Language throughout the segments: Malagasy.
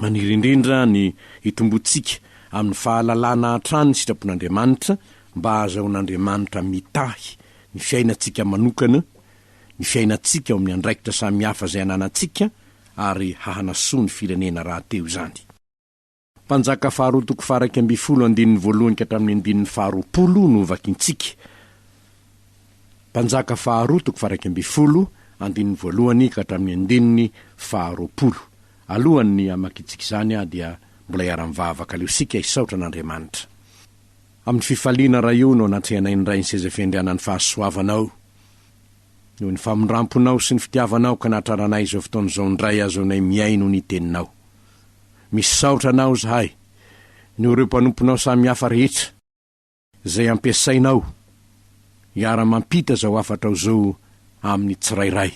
maniry indrindra ny hitomboantsika amin'ny fahalalana hatrany ny sitrapon'Andriamanitra mba hahazahoan'Andriamanitra mitahy ny fiainantsika manokana, ny fiainantsika ao amin'ny andraikitra samihafa izay ananantsika ary hahanasoa ny firenena rahateo izany. Mpanjaka faharoa toko faha iraika ambin'ny folo andininy voalohany ka hatramin'ny andininy faharoapolo no hovakintsika. Mpanjaka faharoa toko faharaika ambin'ny folo, andininy voalohany ka hatramin'ny andininy faharoapolo. Alohan'ny hamakiantsika izany aho dia mbola iara-mivavaka aleo isika hisaotra an'Andriamanitra. Amin'ny fifaliana raha io no anatrehanay ny Ray ny seza fiandrianan'ny fahasoavanao. Noho ny famindramponao sy ny fitiavanao ka nahatraranay izao fotoana izao indray ahazoanay mihaino ny teninao. Misaotra anao izahay, noho ireo mpanomponao samihafa rehetra. izay ampiasainao hiara-mampita izao hafatrao izao amin'ny tsirairay.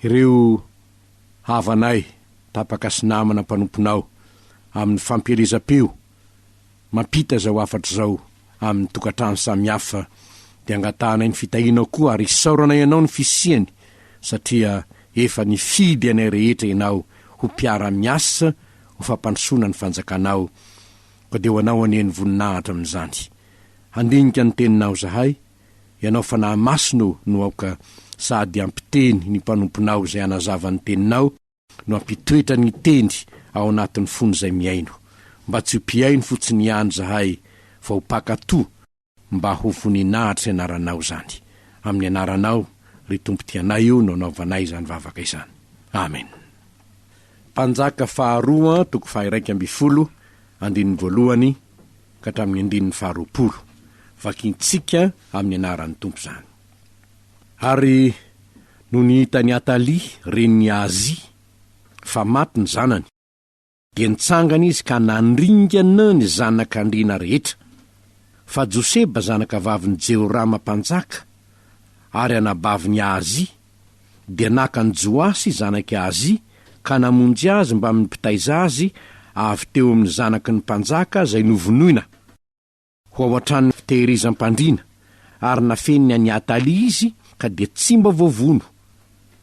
Ireo havanay tapaka sy namana mpanomponao amin'ny fampielezam-peo mampita izao hafatra izao amin'ny tokantrano samihafa dia angatahanay ny fitahianao koa ary isaorana ianao ny fisiany satria efa nifidy anay rehetra ianao ho mpiara-miasa ho fampandrosoana ny fanjakanao Ka dia ho anao anie ny voninahitra amin'izany. Handinika ny teninao izahay, ianao Fanahy Masina ô, no aoka sady hampiteny ny mpanomponao izay hanazava ny teninao, no hampitoetra ny teny ao anatin'ny fon'izay mihaino. Mba tsy ho mpihaino fotsiny ihany izahay, fa ho mpankatò. Mba ho voninahitry ny anaranao izany. Amin'ny anaranao, ry Tompo tia anay io no anaovanay izany vavaka izany. Amena. Mpanjaka faharoa toko faha-iraika ambin'ny folo, andininy voalohany ka hatramin'ny andininy faharoapolo. Vakintsika amin'ny anaran'ny Tompo izany. Ary nony hitan'i Atalia, renin'i Ahazia, fa maty ny zanany, Dia nitsangana izy ka nandringana ny zanak'andriana rehetra, fa Joseba zanakavavin'i Jehorama mpanjaka, ary anabavin'i Ahazia, dia naka an'i Joasy zanak'i Ahazia ka namonjy azy mbamin'ny mpitaiza azy avy teo amin'ny zanaky ny mpanjaka izay novonoina, Ho ao an-tranon'ny fitehirizam-pandriana, ary nafeniny an'i Atalia izy ka dia tsy mba voavono.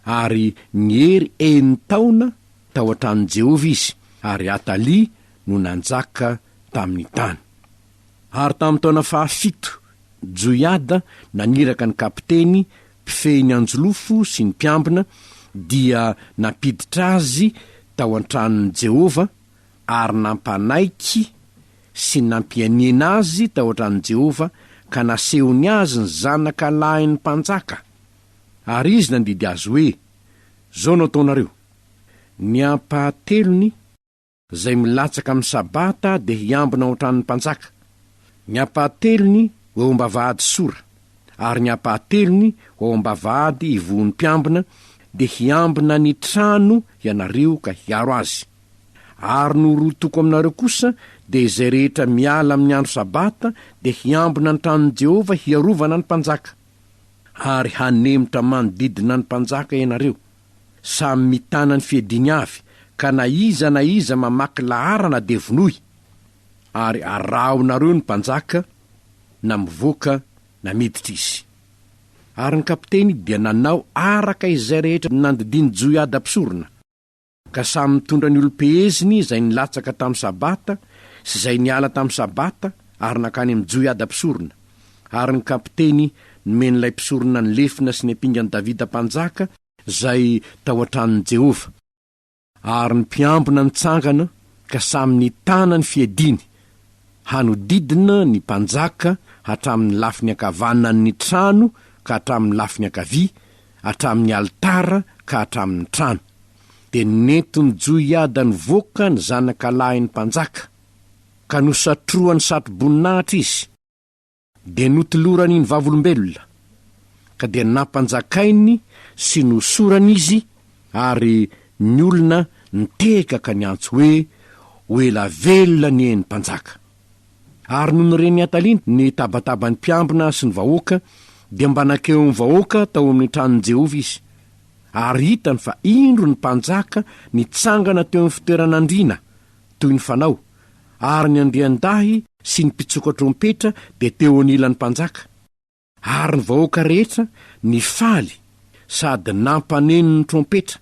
Ary niery enin-taona tao an-tranon'i Jehovah izy, ary Atalia no nanjaka tamin'ny tany. Ary tamin'ny taona fahafito, Joiada naniraka ny kapiteny mpifehy ny anjolofo sy ny mpiambina, dia nampiditra azy tao an-tranon'i Jehovah, ary nampanaiky sy nampianiana azy tao an-tranon'i Jehovah ka nasehony azy ny zanaka lahin'ny mpanjaka, ary izy nandidy azy hoe, Izao no ataonareo, Ny ampahatelony izay milatsaka amin'ny Sabata dia hiambina ao an-tranon'ny mpanjaka, ny ampahatelony ho eo am-bavahady Sora, ary ny ampahatelony ho ao am-bavahady Ivohon'ny Mpiambina, dia hiambina ny trano ianareo ka hiaro azy. Ary no roa toko aminareo kosa dia izay rehetra miala amin'ny andro Sabata dia hiambina ny tranon'i Jehovah hiarovana ny mpanjaka. Ary hanemotra manodidina ny mpanjaka ianareo, samy mitana ny fiadiany avy, ka na iza na iza mamaky laharana dia vonoy. Ary arahonareo ny mpanjaka, na mivoaka na miditra izy. Ary ny kapiteny dia nanao araka izay rehetra nandidian'i Joiada mpisorona. Ka samy mitondra ny olom-peheziny izay nilatsaka tamin'ny Sabata sy izay niala tamin'ny Sabata ary nankany amin'i Joiada mpisorona. Ary ny kapiteny nomen'ilay mpisorona ny lefona sy ny ampingan'i Davida mpanjaka izay tao an-tranon'i Jehovah. Ary ny mpiambina nitsangana ka samy nitana ny fiadiany hanodidina ny mpanjaka hatramin'ny lafiny ankavanan'ny trano ka hatramin'ny lafiny ankavia, hatramin'ny alitara ka hatramin'ny trano. Dia nentin'i Joiada nivoaka ny zanaka lahin'ny mpanjaka, ka nosatrohany satroboninahitra izy, dia notolorany ny vavolombelona, ka dia nampanjakainy sy nosorany izy, ary ny olona nitehaka ka niantso hoe, Ho ela velona anie ny mpanjaka! Ary nony ren'i Atalina ny tabataban'ny mpiambina sy ny vahoaka, dia mba nankeo amin'ny vahoaka tao amin'ny tranon'i Jehovah izy, ary hitany fa indro ny mpanjaka nitsangana teo amin'ny fitoeran'andriana, toy ny fanao, ary ny andriandahy sy ny mpitsoka trompetra dia teo anilan'ny mpanjaka. Ary ny vahoaka rehetra nifaly sady nampaneno ny trompetra,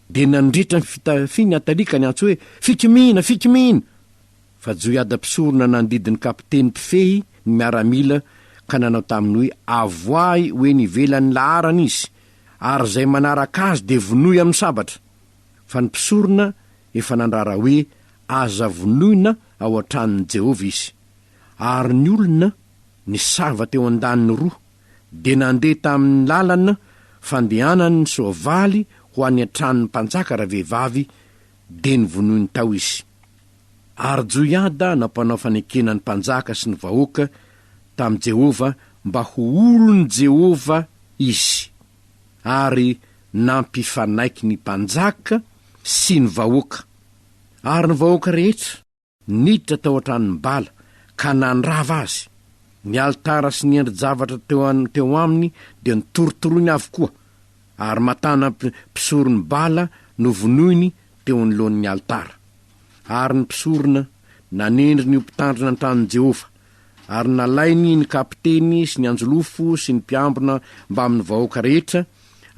dia nandritra ny fitafiany Atalika niantso hoe, Fikimina! Fikimina! Fa Joiada mpisorona nandidy ny kapiteny mpifehy ny miaramila ka nanao taminy hoe, Avoahy ho eny ivelan'ny laharana izy, ary izay manaraka azy dia vonoy amin'ny sabatra! Fa ny mpisorona efa nandrara hoe, Aza vonoina ao an-tranon'i Jehovah izy. Ary ny olona ny sava teo an-daniny roa, dia nandeha tamin' ny lalan' fandehanan' ny soavaly ho any an-tranon' ny mpanjaka ravehivavy, dia novonoiny tao izy. Ary Joiada nampanao fanekena ny mpanjaka sy ny vahoaka tamin'i Jehovah mba ho olon'i Jehovah izy, ary nampifanaiky ny mpanjaka sy ny vahoaka, ary ny vahoaka rehetra, Niditra tao an-tranon'i Bala ka nandrava azy. Ny alitara sy ny endri-javatra teo an teo aminy dia notorotoroiny avokoa, ary Matana mpi mpisoron'i Bala novonoiny teo anoloan'ny alitara. Ary ny mpisorona nanendry ny ho mpitandrina ny tranon'i Jehovah, ary nalainy ny kapiteny sy ny anjolofo sy ny mpiambina mbamin'ny vahoaka rehetra,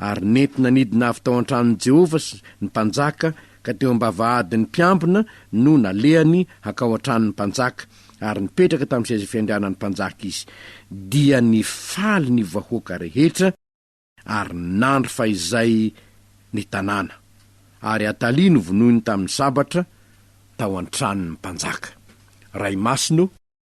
ary nentina nidina avy tao an-tranon'i Jehovah ny mpanjaka, ka teo am-bavahadin'ny mpiambina no nalehany hankao an-tranon'ny mpanjaka, ary nipetraka tamin'ny seza fiandrianan'ny mpanjaka izy. Dia nifaly ny vahoaka rehetra, ary nandry fahizay ny tanàna. Ary Atalia novonoiny tamin'ny sabatra tao an-tranon'ny mpanjaka. Ray masina o!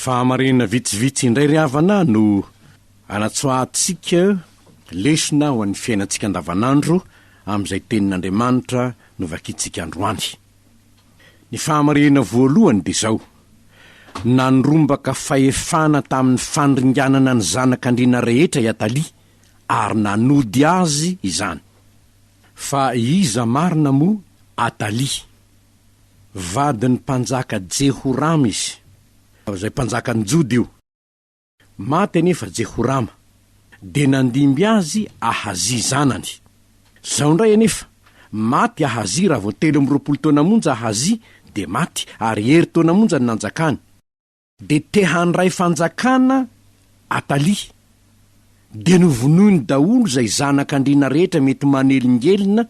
Fahamarinana vitsivitsy indray ry havana no anatsoahantsika lesona ho an'ny fiainantsika andavanandro amin'izay Tenin'Andriamanitra novakintsika androany. Ny fahamarinana voalohany dia izao, Nandrombaka fahefana tamin'ny fandringanana ny zanak'andriana rehetra i Atalia, ary nanody azy izany. Fa iza marina moa Atalia? Vadin'ny mpanjaka Jehorama izy, izay mpanjakan'ny Joda io. Maty anefa Jehorama, dia nandimby azy Ahazia zanany. Izao indray anefa, maty Ahazia raha vao telo amby roapolo taona monja Ahazia dia maty, ary herintaona monja no nanjakany. Dia te handray fanjakana Atalia. Dia novonoiny daholo izay zanak' andriana rehetra mety manelingelina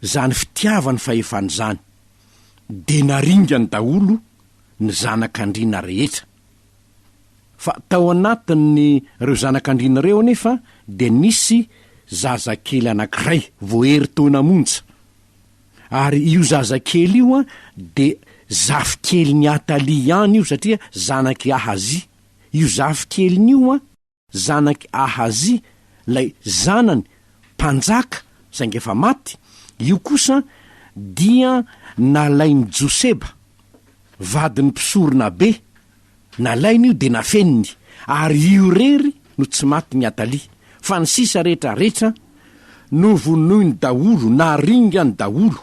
izany fitiavany fahefana izany. Dia naringany daholo ny zanak' andriana rehetra. Fa tao anatin' ireo zanak' andriana ireo anefa dia nisy zazakely anankiray, voaheritaona monja. Ary io zazakely io an, dia zafikelin'i Athalie ihany io satria zanak'i Ahazia. Io zafikeliny io an, zanak'i Ahazia, ilay zanany mpanjaka saingy efa maty, io kosa dia nalain'i Joseba, vadin'ny mpisoronabe, Nalainy io dia nafeniny ary io irery no tsy maty ny Atali fa ny sisa rehetra rehetra novonoiny daholo na ringany daholo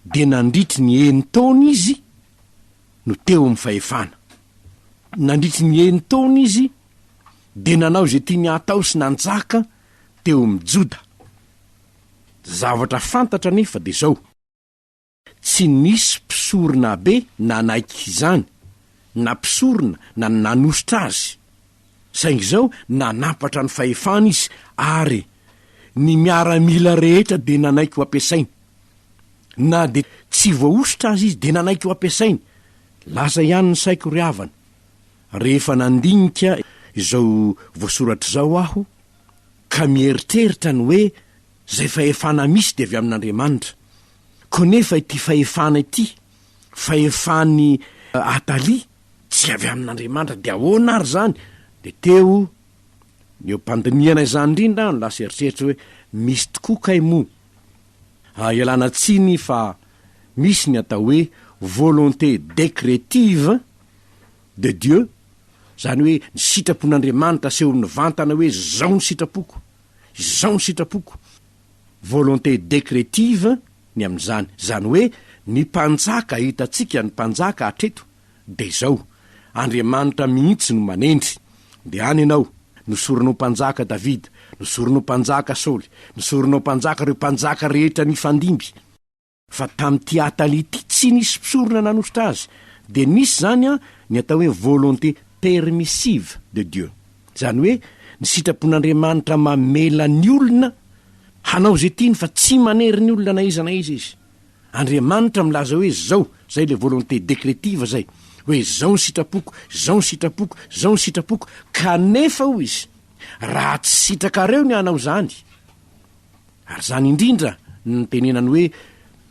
dia nandritry ny enin-taona izy no teo amin'ny fahefana. Nandritry ny enin-taona izy dia nanao izay tiany hatao sy nanjaka teo amin'ny Joda. Zavatra fantatra anefa dia izao. Tsy nisy mpisoronabe nanaiky izany, na mpisorona na ny nanosotra azy. Saingy izao nanampatra ny fahefany izy ary ny miaramila rehetra dia nanaiky ho ampiasainy. Na dia tsy voahosotra aza izy dia nanaiky ho ampiasainy. Lasa ihany ny saiko ry havana, rehefa nandinika izao voasoratra izao aho ka mieritreritra ny hoe, Izay fahefana misy dia avy amin'Andriamanitra. Konefa ity fahefana ity, fahefan'i Atalia, tsy avy amin'Andriamanitra, dia ahoana ary izany? Dia teo ny eo am-pandinihana izany indrindra aho no lasa eritreritro hoe, misy tokoa kay moa? Ah, ialana tsiny fa misy ny atao hoe volonté décrétive de Dieu, izany hoe ny sitrapon'Andriamanitra asehoany mivantana hoe izao ny sitrapoko. Izao ny sitrapoko, volonté décrétive, ny amin'izany. Izany hoe ny mpanjaka hitantsika ny mpanjaka hatreto dia izao, Andriamanitra mihitsy no manendry. Dia any ianao, nosoronao mpanjaka Davida, nosoronao mpanjaka Saoly, nosoronao mpanjaka ireo mpanjaka rehetra nifandimby. Fa tamin'ity Atali ity tsy nisy mpisorona nanositra azy, dia nisy izany an, ny atao hoe volonté permissive de Dieu. Izany hoe ny sitrapon'Andriamanitra mamela ny olona hanao izay tiany fa tsy manery ny olona na iza na iza izy. Andriamanitra milaza hoe izao, izay ilay volonté décrétive izay, hoe izao ny sitrapoko, izao ny sitrapoko, izao ny sitrapoko, kanefa hoy izy, raha tsy sitrakareo ny hanao izany, Ary izany indrindra no nitenenany hoe,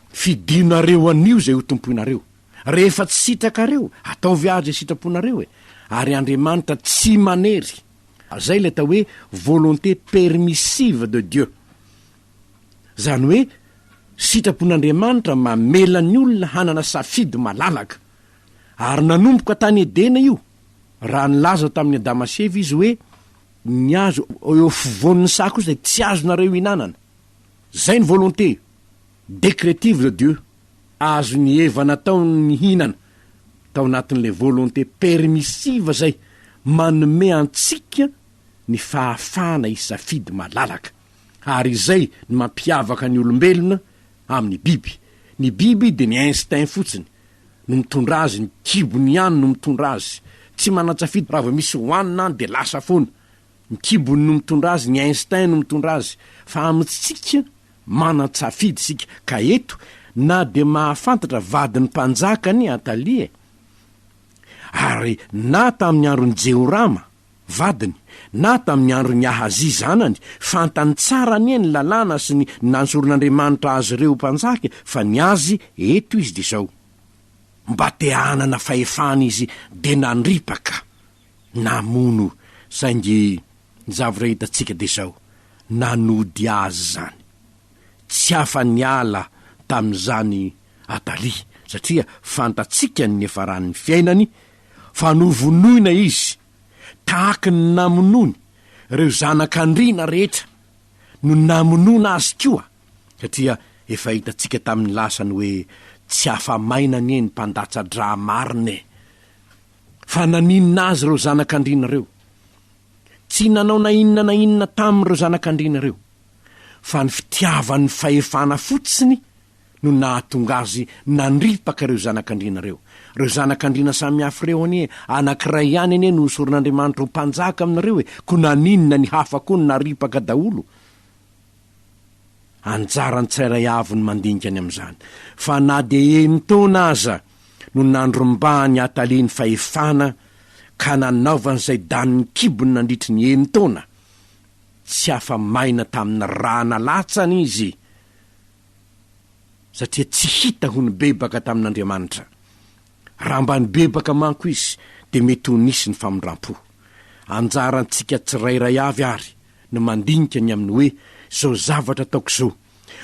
Fidinareo anio izay ho tompoinareo. Rehefa tsy sitrakareo, ataovy àry izay sitraponareo e! Ary Andriamanitra tsy manery. Izay ilay atao hoe volonté permissive de Dieu. Izany hoe, sitrapon'Andriamanitra mamela ny olona hanana safidy malalaka. Ary nanomboka tany Edena io, raha nilaza tamin'i Adama sy Eva izy hoe, Ny azo eo afovoan'ny saha kosa dia tsy azonareo ihinanana. Zay ny volonté décrétive de Dieu, azon'i Eva natao ny nihinana tao anatin'ilay volonté permissive zay manome antsika ny fahafahana hisafidy malalaka. Ary izay ny mampiavaka ny olombelona amin'ny biby. Ny biby dia ny instinct fotsiny. no mitondra azy, ny kibony ihany no mitondra azy, tsy manan-tsafidy, raha vao misy hohanina any dia lasa foana, ny kibony no mitondra azy, ny instinct no mitondra azy, fa amintsika manan-tsafidy isika, ka eto na dia mahafantatra vadin'ny mpanjaka anie Atalia e! ary na tamin'ny andron'i Jehorama vadiny, na tamin'ny andron'i Ahazia zanany, fantany tsara anie ny lalàna sy ny nanjoron'Andriamanitra azy ireo ho mpanjaka, fa ny azy eto izy dia izao, mba te hanana fahefana izy dia nandripaka, namono, saingy ny zavatra hitantsika dia izao, nanody azy izany. Tsy afa-niala tamin'izany Atalia, satria fantatsika ny niafaran'ny fiainany, Fa novonoina izy, tahaky ny namonoany ireo zanak'andriana rehetra, no namonoana azy koa, satria efa hitantsika tamin'ny lasany hoe tsy afa-maina anie ny mpandatsa-dra marina e! Fa naninona azy ireo zanak'andriana ireo? Tsy nanao na inona na inona taminy ireo zanak'andriana ireo, fa ny fitiavan'ny fahefana fotsiny no nahatonga azy nandripaka ireo zanak'andriana ireo. Ireo zanak'andriana samihafa ireo anie, anankiray ihany anie no osorin'Andriamanitra ho mpanjaka aminareo e, koa naninona ny hafa koa no naripaka daholo? Anjaran'ny tsirairay avy ny mandinika ny amin'izany, fa na dia enin-taona aza no nandrombahan'i Atalia ny fahefana ka nanaovany izay danin'ny kibony nandritry ny enin-taona, tsy afa-maina tamin'ny ra nalatsany izy, satria tsy hita ho nibebaka tamin'Andriamanitra. Raha mba nibebaka manko izy, dia mety ho nisy ny famindrampo. Anjarantsika tsirairay avy àry ny mandinika ny amin'ny hoe izao zavatra ataoko izao,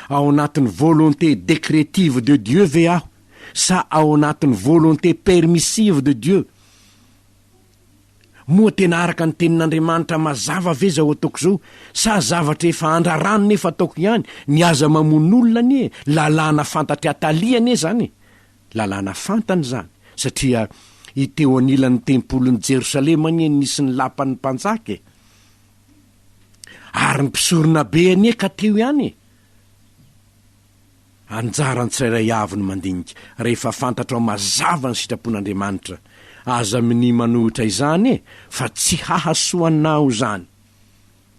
ao anatin'ny volonté décrétive de Dieu ve aho sa ao anatin'ny volonté permissive de Dieu? Moa tena araka ny Tenin'Andriamanitra mazava ve izao ataoko izao, sa zavatra efa andrarano nefa ataoko ihany? Ny aza mamono olona anie lalàna fantatr'i Atalia anie izany e! Lalàna fantany izany, satria i teo anilan'ny Tempolin'i Jerosalema anie no nisy ny lapan'ny mpanjaka e! Ary ny mpisoronabe anie ka teo ihany e! Anjaran'ny tsirairay avy ny mandinika, rehefa fantatrao mazava ny sitrapon'Andriamanitra. Aza minia manohitra izany e, fa tsy hahasoa anao izany.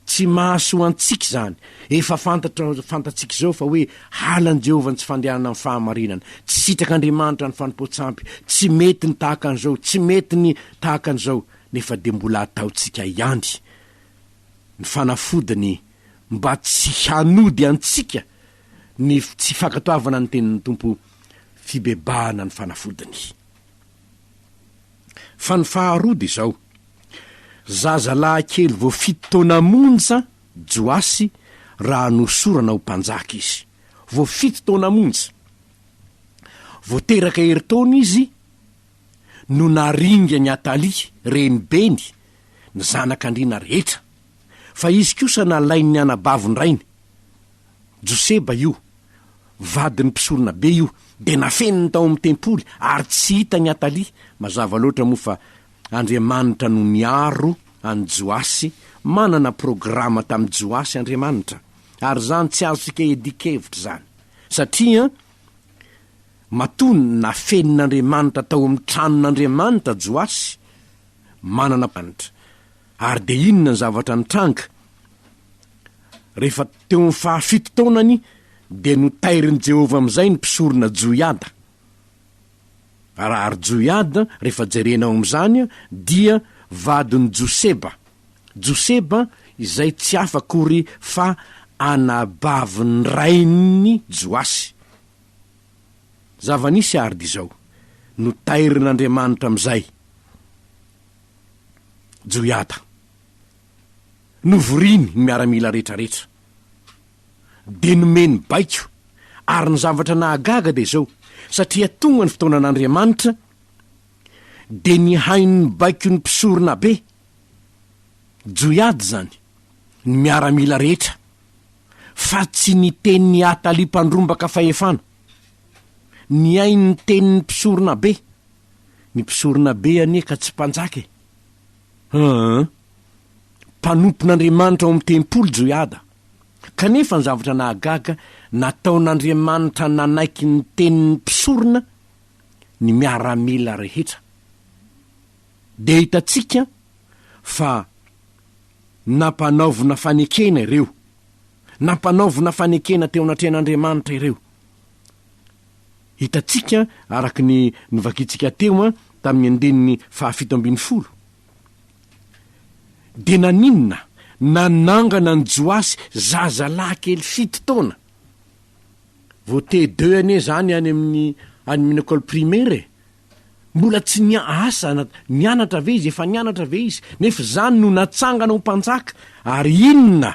Tsy mahasoa antsika izany. Efa fantatrao, fantatsika izao fa hoe halan'i Jehovah ny tsy fandehanana amin'ny fahamarinana. Tsy sitrak'Andriamanitra ny fanompoan-tsampy. Tsy mety ny tahaka an'izao, tsy mety ny tahaka an'izao. Nefa dia mbola ataontsika ihany ny fanafodiny mba tsy hanody antsika ny tsy fankatoavana ny tenin'ny Tompo, fibebahana ny fanafodiny. Fa ny faharoa dia izao, zazalahy kely vao fito taona monja Joasy raha nohosorana ho mpanjaka izy. Vao fito taona monja. Vao teraka herintaona izy no naringan'i Atalia, renibeny, ny zanak'andriana rehetra, fa izy kosa nalain'ny anabavin-drainy. Joseba io, vadin'ny mpisoronabe io, dia nafeniny tao amin'ny tempoly ary tsy hita ny Atalia. Mazava loatra moa fa Andriamanitra no niaro an'i Joasy, manana programa tamin'i Joasy Andriamanitra. Ary izany tsy azontsika iadian-kevitra izany, satria matoa nafenin'Andriamanitra tao amin'ny tranon'Andriamanitra Joasy, manana programa. Ary dia inona ny zavatra nitranga? Rehefa teo amin'ny fahafito taonany, dia notairin'i Jehovah amin'izay ny mpisorona Joiada. Ary Joiada, rehefa jerena ao amin'izany, dia vadin'i Joseba. Joseba izay tsy hafa akory fa anabavin'ny rain'i Joasy. Zava-nisy àry dia izao, notairin'Andriamanitra amin'izay. Joyada. Novoriny ny miaramila retraretra. Dia nomeny baiko. Ary ny zavatra nahagaga dia izao, satria tonga ny fotoanan'Andriamanitra, dia nihaino ny baikon'ny mpisorona be, Joyada izany, ny miaramila rehetra, fa tsy ny tenin'i Atalia mpandrombaka fahefana. Nihaino ny tenin'ny mpisorona be. Ny mpisorona be anie ka tsy mpanjaka e! Aa! Mpanompon'Andriamanitra ao amin'ny tempoly Joiada. Kanefa ny zavatra nahagaga, nataon'Andriamanitra nanaiky ny tenin'ny mpisorona ny miaramila rehetra. Dia hitantsika fa nampanaovina fanekena ireo. Nampanaovina fanekena teo anatrehan'Andriamanitra ireo. Hitantsika araka ny novakintsika teo tamin'ny andininy fahafito ambin'ny folo, dia naninona nanangana an'i Joasy zazalahy kely fito taona? Vao TE2 anie izany any amin'ny any amin'ny école primaire e! Mbola tsy nia, asa na nianatra ve izy, efa nianatra ve izy? Nefa izany no natsangana ho mpanjaka, ary inona?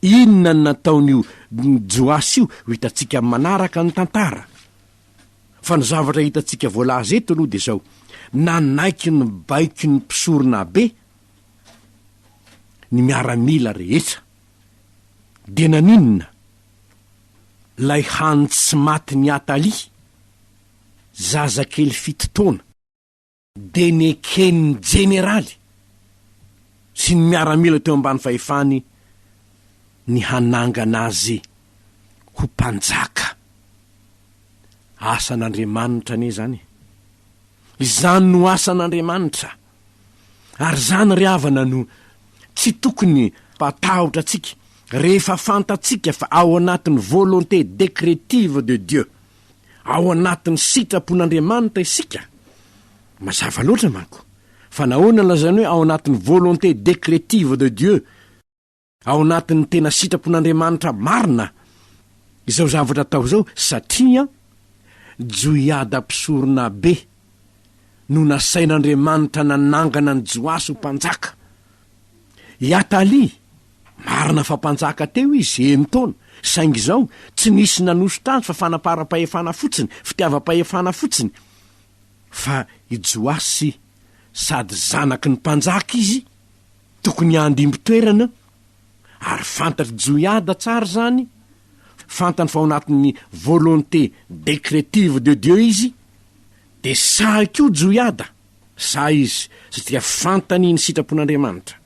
Inona no nataon'io Joasy io? Ho hitantsika amin'ny manaraka ny tantara. Fa ny zavatra hitantsika voalaza eto aloha dia izao, nanaiky ny baikon'ny mpisoronabe ny miaramila rehetra. Dia naninona? Ilay hany tsy matin'i Atalia, zazakely fito taona. dia neken'ny jeneraly sy ny miaramila teo ambany fahefany ny hanangana azy ho mpanjaka. Asan'Andriamanitra anie izany e! Izany no asan'Andriamanitra, ary izany ry havana no tsy tokony hatahotra antsika, rehefa fantatsika fa ao anatin'ny volonté décrétive de Dieu Ao anatin'ny sitrapon'Andriamanitra isika. Mazava loatra manko. Fa nahoana nolazainy hoe ao anatin'ny volonté décrétive de Dieu, ao anatin'ny tena sitrapon'Andriamanitra marina, izao zavatra atao izao? Satria Joiada mpisoronabe no nasain'Andriamanitra nanangana an'i Joasy ho mpanjaka. I Atalia, Marina fa mpanjaka teo izy, enin-taona, saingy izao, tsy nisy nanosotra azy fa fanamparam-pahefana fotsiny, fitiavam-pahefana fotsiny. Fa i Joasy, sady zanaky ny mpanjaka izy, tokony handimby toerana, ary fantatr'i Joiada tsara izany, fantany fa ao anatin'ny volonté décrétive de Dieu izy, dia sahy koa Joiada, sahy izy satria fantany ny sitrapon'Andriamanitra.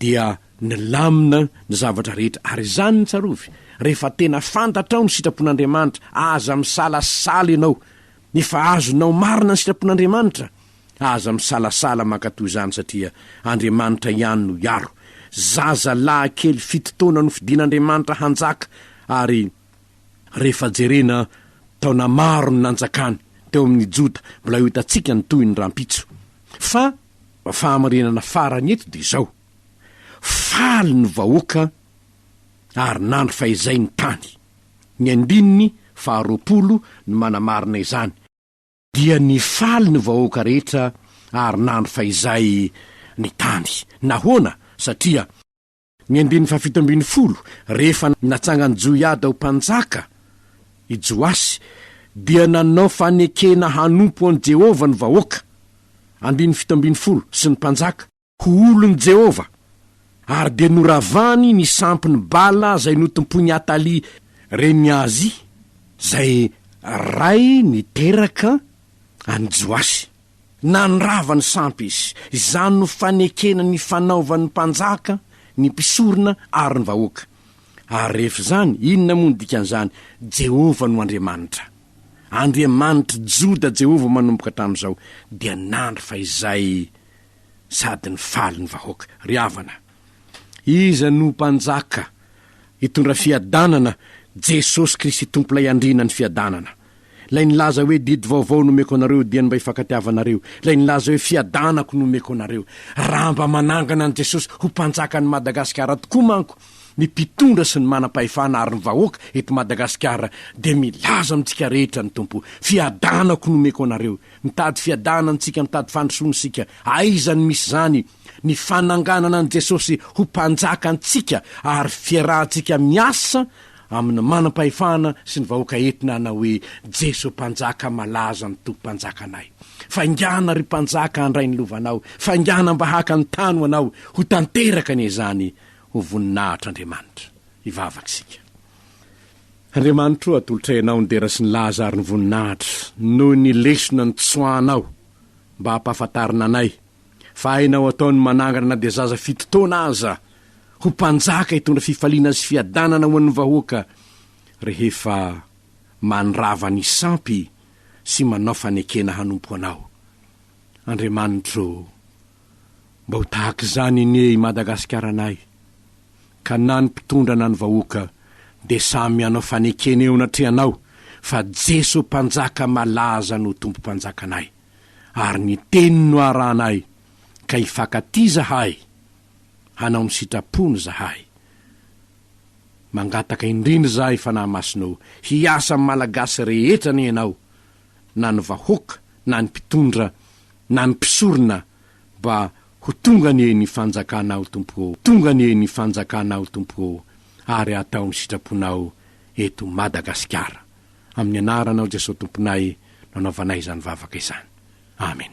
dia nilamina ny zavatra rehetra, ary izany no tsarovy, rehefa tena fantatrao ny sitrapon'Andriamanitra, aza misalasala ianao, efa azonao marina ny sitrapon'Andriamanitra, aza misalasala mankatoa izany satria Andriamanitra ihany no hiaro, zaza lahy kely fito taona nofidin'Andriamanitra hanjaka ary rehefa jerena taona maro ny nanjakany teo amin'ny Joda, mbola ho hitantsika ny tohiny rahampitso, fa Fahamarinana farany eto dia izao, faly ny vahoaka ary nandry fahizay ny tany. Ny andininy faharoapolo no manamarina izany, dia nifaly ny vahoaka rehetra ary nandry fahizay ny tany. Nahoana? Satria. Ny andininy fahafito ambin'ny folo, Rehefa natsangan'i Joiada ho mpanjaka i Joasy, dia nanao fanekena hanompo an'i Jehovah ny vahoaka, andininy fito ambin'ny folo, sy ny mpanjaka, ho olon'i Jehovah, ary dia noravany ny sampin'i Bala izay notompoin'i Atalia, renin'i Ahazia, izay ray niteraka an'i Joasy. Nandrava ny sampy izy. Izany no fanekena ny fanaovan'ny mpanjaka, ny mpisorona ary ny vahoaka. Ary rehefa izany, inona moa no dikan'izany? Jehovah no Andriamanitra. Andriamanitr'i Joda Jehovah manomboka hatramin'izao, dia nandry fahizay sady nifaly ny vahoaka. Ry havana! Iza no Mpanjaka hitondra fiadanana? Jesosy Kristy Tompo-lay Andriana ny fiadanana. Lay nilaza hoe didy vaovao no omeko anareo, dia ny mba ifankatiavanareo. Lay nilaza hoe fiadanako no omeko anareo. Raha mba manangana an'i Jesosy ho Mpanjakan'i Madagasikara tokoa manko ny mpitondra sy ny manam-pahefana ary ny vahoaka eto Madagasikara dia milaza amintsika rehetra ny Tompo hoe fiadanako no omeko anareo. Mitady fiadanana antsika, mitady fandrosoana isika. Aiza no misy izany? Ny fananganana an'i Jesosy ho Mpanjaka antsika ary fiarahantsika miasa amin'ny manam-pahefana sy ny vahoaka entina hanao hoe, Jeso Mpanjaka malaza ny Tompo Mpanjakanay. Faingàna, ry Mpanjaka, handray ny lovanao. Faingàna mba haka ny tany ho anao. Ho tanteraka anie izany ho voninahitr'Andriamanitra. Hivavaka isika. Andriamanitro o, atolotra Ianao ny dera sy ny laza ary ny voninahitra, noho ny lesona nitsoahanao mba hampahafantarina anay fa hainao atao ny manangana na dia zaza fito taona aza ho mpanjaka hitondra fifaliana sy fiadanana ho an'ny vahoaka rehefa mandrava ny sampy sy manao fanekena hanompo Anao. Andriamanitro Mba ho tahaka izany anie i Madagasikaranay ka na ny mpitondra na ny vahoaka dia samy mianao fanekena eo anatrehanao fa Jeso Mpanjaka malaza no Tompom-panjakanay ary ny teniny no arahanay ka hifankatia izahay hanao ny sitrapony izahay. Mangataka indrindra izahay Fanahy Masina o hiasa amin'ny Malagasy rehetra anie ianao na ny vahoaka na ny mpitondra na ny mpisorona mba ho tonga anie ny fanjakanao Tompo ô tonga anie ny fanjakanao Tompo ô ary atao ny sitraponao eto Madagasikara amin'ny anaranao Jesosy Tomponay no anaovanay izany vavaka izany Amen.